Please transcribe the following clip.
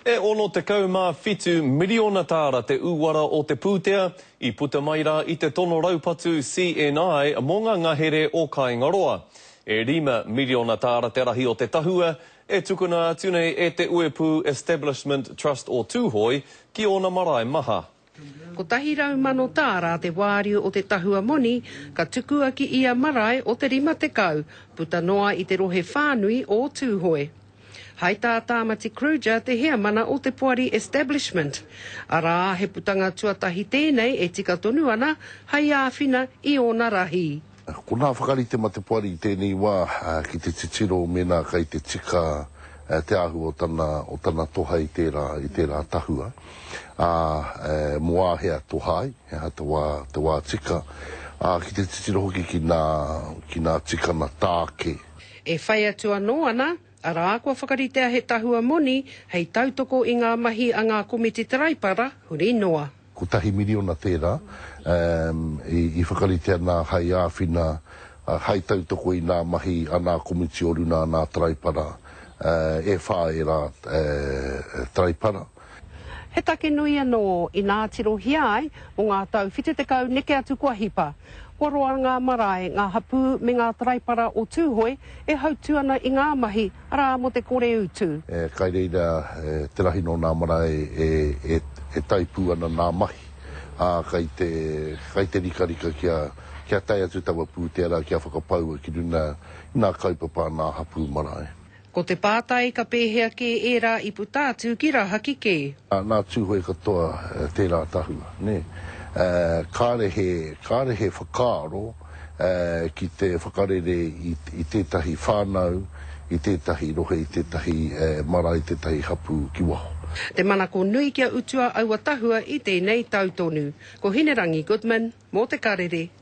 E 67 miriona tāra te uara o te pūtea i puta mai rā i te tono raupatu CNI mō ngā ngahere o Kāingaroa. E 5 miriona tāra te rahi o te tahua e tukuna atu nei e te Uepū Establishment Trust o Tūhoe ki ōna marae maha. 100,000 tāra te wāriu o te tahua moni ka tukua ki ia marae o te 50, puta noa i te rohe whānui o Tūhoe. Hai tā Tāmati Kruger te heamana o te poari Establishment, arā, he putanga tuatahi tēnei e tika tonu ana hai āwhina i ōna rahi. Ko nā whakarite ma te poari i tēnei wā ki te titiro mēnā kai te tika te āhua o tana, o tana toha i tērā, i tērā tahua, ā, mō āhea toha ai, he aha te wā, te wā tika, ā, ki te titiro hoki ki nā, ki nā tikana tāke. E whai atu anō ana, arā, kua whakaritea he tahua moni hei tautoko i ngā mahi a ngā komiti taraipara huri noa. Kotahi miriona tērā i whakaritea nā hai āwhina, hai tautoko i nā mahi a nā komiti o runa a nā Taraipara, e whā ērā Taraipara. He take nui anō inā tirohia ai mō ngā tau 70 neke atu kua hipa. Kua roa ngā marae, ngā hapū me ngā Taraipara o Tūhoe e hautū ana i ngā mahi, Arā, mō te kore utu. Kai reira te rahi nō nā marae e tae pū ana nā mahi, ā, kai te, kai te rikarika kia, kia tae atu taua pūtea rā kia whakapaua ki runga i nā kaupapa a nā hapū marae. Ko te pātai, ka pēhea kē ērā i puta atu ki Rahaki kē? Nā Tūhoe katoa tērā tahua, nē. Kāre he, kāre he whakaaro. ki te whakarere i tētahi whānau, i tētahi rohe, i tētahi marae, tētahi hapū ki waho. Te manako nui kia utua aua tahua i tēnei tau tonu. Ko Hinerangi Goodman, mō Te Karere,